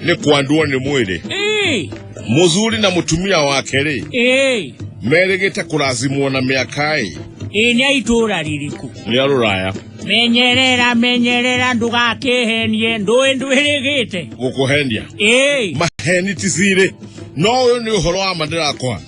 ni kwandua ni mwili Eh, muzuri na mutumia wake ri eh, merigite kurazimwo na miakai eh, nĩ itũũra rĩrĩkũ ni aruraya menyerera menyerera ndũgakĩhenie ndũĩ ndwĩrĩgĩte gukuhendia Eh, maheni ti siri no uyu ni uhoro wa ma ndirakwa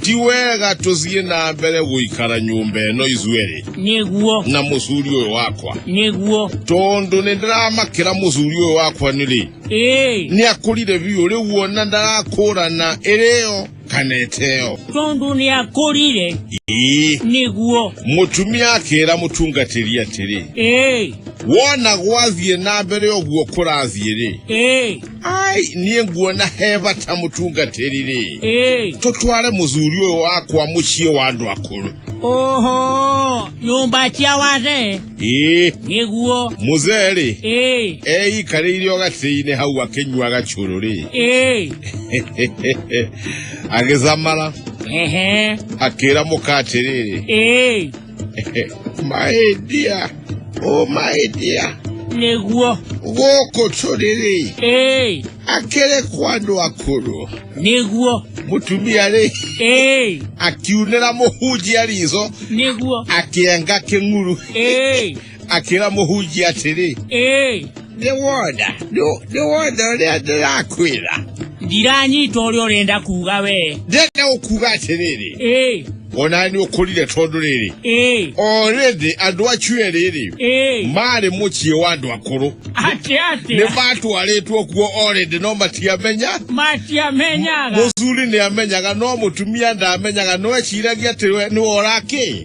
ti wega tũthiĩ na mbere gũikara nyũmba ĩno ithuerĩ nĩguo na mũthuri ũyũ wakwa nĩguo tondũ nĩ ndĩramakĩra mũthuri ũyũ wakwa nĩrĩ ĩĩ nĩ akũrire biũ rĩu ona ndarakũrana ĩrĩyo kana ĩteyo tondũ nĩ akũrire ii nĩguo mũtumia akĩra mũtungatĩri atĩrĩ ĩĩ wona gwathiĩ na mbere ũguo kũrathiĩ rĩ ĩĩ ai niĩ nguona he bata mũtungatĩri-rĩ Ĩĩ. tũtware mũthuri ũyũ wakwa mũciĩ wa andũ akũrũ Oho, nyũmba cia wazee ĩĩ nĩguo. mũzee-rĩ Ĩĩ, eikarĩire o gatĩ-inĩ hau akĩnyuaga cũrũ-rĩ ĩĩ, agĩcamara ehe, akĩra mũka atĩrĩrĩ ĩĩ. my dear oh my dear nĩguo gũkũ tũrĩrĩ ĩĩ akĩrĩ kwa andũ akũrũ nĩguo mũtumia rĩ ĩĩ akiunĩra mũhunjia riitho nĩguo akĩenga kĩng'uru ĩĩ akĩra mũhunjia atĩrĩ ĩĩ nĩ wona nĩ- nĩ wona ũrĩa ndĩrakwĩra ndiranyita ũrĩa ũrenda kuga wee ndenda gũkuga atĩrĩrĩ ĩĩ ona nĩ ũkũrire tondũ rĩrĩ ĩĩ o rĩndĩ andũ acio erĩ rĩ ĩĩ maarĩ mũciĩ wa andũ akũrũ atĩ nĩ atĩa matwarĩtwo kuo o rĩndĩ no matiamenya matiamenyaga mũthuri nĩ amenyaga no mũtumia ndamenyaga no eciragia atĩ we nĩwe ũrakĩ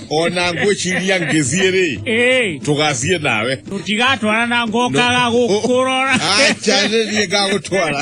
ona ngwĩciria ngĩthiĩ rĩ Ĩĩ, tũgathiĩ nawe tũtigatwarana ngokaga gũkũrora acha nĩ niĩ ngagũtwara